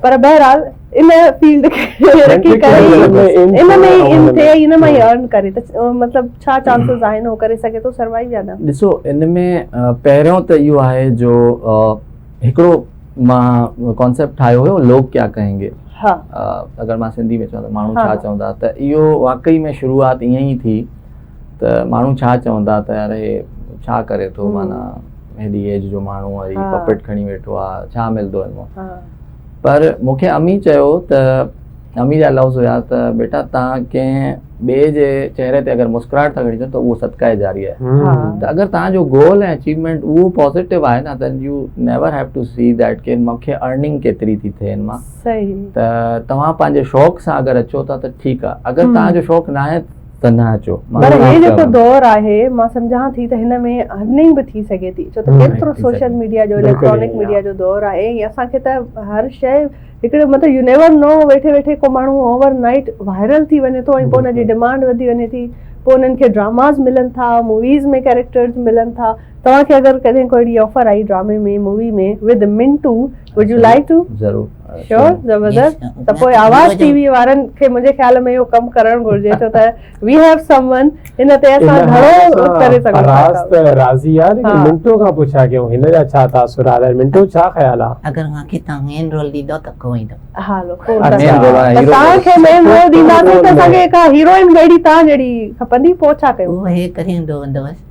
پر بهرحال ان فيلڊ کي رکي ڪري هي ان ۾ ئي ان ٿئي ان مان ئي ارن ڪري ته مطلب ڇا چانسز آهن هو ڪري سگهي ٿو سروائيو يا نه. ڏسو ان ۾ پهريون ته اهو آهي جو هڪڙو مان ڪانسيپٽ ٺاهيو هيو لوگ ڪيا ڪهين گي اگر مان سنڌي ۾ چوان ته ماڻهو ڇا چوندا ته اهو واقعي ۾ شروعات ائين ئي ٿي ته ماڻهو ڇا چوندا ته يار هي ڇا ڪري ٿو معنيٰ هيڏي ايج جو ماڻهو آهي هي پپيٽ کڻي ويٺو آهي ڇا ملندو هن مان پر مونکي امي چيو ته امي جا لفظ هيا ته بيٽا تان ڪنهن ٻي جي چهري تي اگر مسڪراهٽ ٿا کڻي ته اهو صدقه جاري آهي ته اگر تان جو گول ۽ اچيومينٽ اهو پوزيٽو آهي نه ته you never have to see that ڪي مونکي ارننگ ڪيتري ٿي ٿئي هن مان ته توهان پنهنجي شوق سان اگر اچو ٿا ته ٺيڪ آهي اگر تان جو شوق ناهي تنها اچو پر هي جيڪو دور آهي مان سمجهان ٿي ته هن ۾ ارننگ به ٿي سگهي ٿي ڇو ته ايترو سوشل ميڊيا جو اليڪٽرانڪ ميڊيا جو دور آهي ۽ اسان کي ته هر شي هڪڙي مطلب يو نيور نو ويٺي ويٺي ڪو ماڻهو اوور نائيٽ وائرل ٿي وڃي ٿو ۽ پوء ان جي ڊمانڊ وڌي وڃي ٿي پوء انهن کي ڊراماز ملن ٿا موويز ۾ ڪيريڪٽرز ملن ٿا توهان کي اگر ڪڏهن ڪو اهڙي آفر آئي ڊرامي ۾ مووي ۾ وڌ Manto would you like to ضرور شور زبردست ته پوء آواز ٽي وي وارن کي منهنجي خيال ۾ اهو ڪم ڪرڻ گهرجي ڇو ته وي هيو سم ون هن تي اسان گهڻو ڪري سگهون ٿا راز ته راضي آ ليڪن منٽو کان پڇا ڪيون هن جا ڇا تاثر آ منٽو ڇا خيال آ اگر مان کي تان مين رول ڏيندو ته ڪو ايندو ها لو ڪو تان کي مين رول ڏيندا سي ته اسان کي ڪا هيروئن ميڙي تان جهڙي کپندي پوء ڇا ڪيون اهو هي ڪري ايندو ويندو بس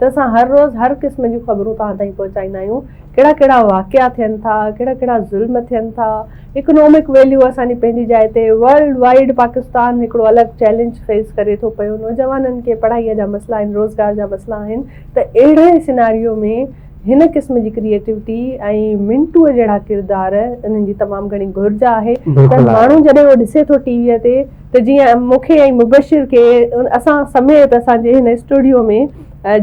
ته اسان هر روز هر قسم جون خبرون توهان تائين پهچائيندا آهيون ڪهڙا ڪهڙا واقعا ٿين ٿا ڪهڙا ڪهڙا ظلم ٿين ٿا اڪنامڪ ويليو اسان جي پنهنجي جاء تي ورلڊ وائيڊ پاڪستان هڪڙو الڳ چئلينج فيس ڪري ٿو پيو نوجوانن کي پڙهائي جا مسئلا آهن روزگار جا مسئلا آهن ته اهڙي سيناريو ۾ هن قسم جي ڪريئيٽوٽي ۽ منٽوء جهڙا ڪردار انهن جي تمام گهڻي گهرج آهي ته ماڻهو جڏهن اهو ڏسي ٿو ٽي ويء تي ته جيئن مون کي ۽ مبشر کي اسان سميت اسان جي هن اسٽوڊيو ۾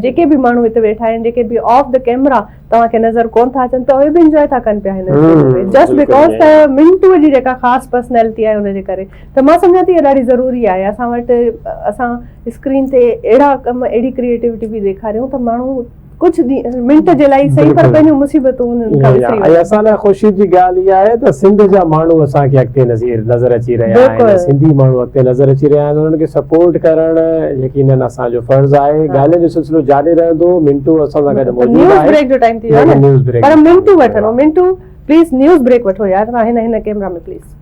جيڪي به ماڻهو هت ويٺا آهن جيڪي به آف دي ڪيمرا توهان کي نظر ڪون ٿا اچن ته اهي به انجوائي ٿا ڪن پيا هن اسٽوڊيو ۾ جسٽ بيڪاز ته منٽو جي جيڪا خاص پرسنالٽي آهي ان جي ڪري ته مان سمجهان ٿي اهو ڏاڍي ضروري آهي اسان وٽ اسان اسڪرين تي اهڙا ڪم اهڙي ڪريئيٽوٽي به ڏيکاريون ته ماڻهو ڪجهه ڏينهن منٽ جي لاء ئي سهي پر پنهنجون مصيبتون انهن کان وسري وڃن. ۽ اسان لاء خوشي جي ڳالهه اها آهي ته سنڌ جا ماڻهو اسان کي اڳتي نظر اچي رهيا آهن، سنڌي ماڻهو اڳتي نظر اچي رهيا آهن، انهن کي سپورٽ ڪرڻ يقينن اسان جو فرض آهي، ڳالهين جو سلسلو جاري رهندو، منٽو اسان سان گڏ موجود آهي. نيوز بريڪ جو ٽائيم ٿي ويو آهي نه پر منٽو وٺڻو، منٽو پليز نيوز بريڪ وٺو يار، هن هن ڪيمرا ۾ پليز.